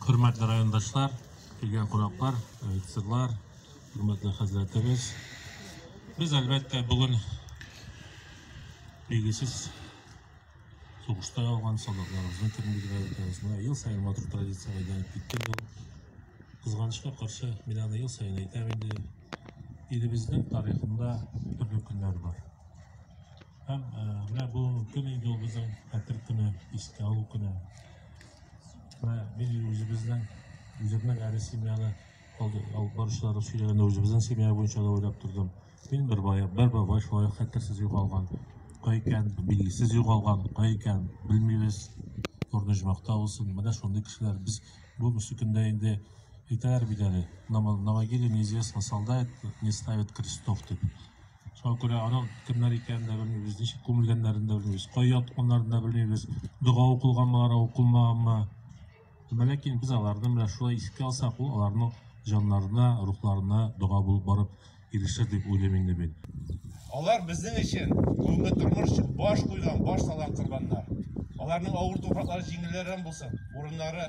Хөрмәтле райондашлар, килгән кунаклар, офицерлар, хөрмәтле хәзрәтебез. Без, әлбәттә, бүген билгесез сугышта алган солдатларыбызны күрмәгән өлкәбезне ел сайын матур традиция әйләнеп китте бу. Кызганычка каршы, мин аны ел сайын әйтәм инде. Илебезнең тарихында төрле көннәр бар. Һәм э, менә бу көн инде ул безнең хәтер көне, искә алу көне. Менә без үзебезнең үземнең әле семьяны алып баручылар сөйләгәндә үзебезнең семья буенча да уйлап тордым. Мин бер бая, бер бабай шулай хәтерсез югалган. Кай икән, билгесез югалган, кай икән, белмибез. Орныжмакта булсын. Менә шундый кешеләр без бу мөсекендә инде әйтәләр бит әле. На могиле неизвестно солдат не ставит крестов дип. Шуңа күрә аның кемнәр икәнен дә белмибез, ничек күмелгәннәрен дә белмибез, кая ятканнарын да белмибез, дога укылганмы, алар укылмаганмы. Ләкин без аларны менә шулай искә алсак, ул аларның җаннарына, рухларына дога булып барып ирешер дип уйлыйм инде мин. Алар безнең өчен бүгенге тормыш өчен баш куйган, баш салган корбаннар. Аларның авыр туфраклары җиңелләр булсын, урыннары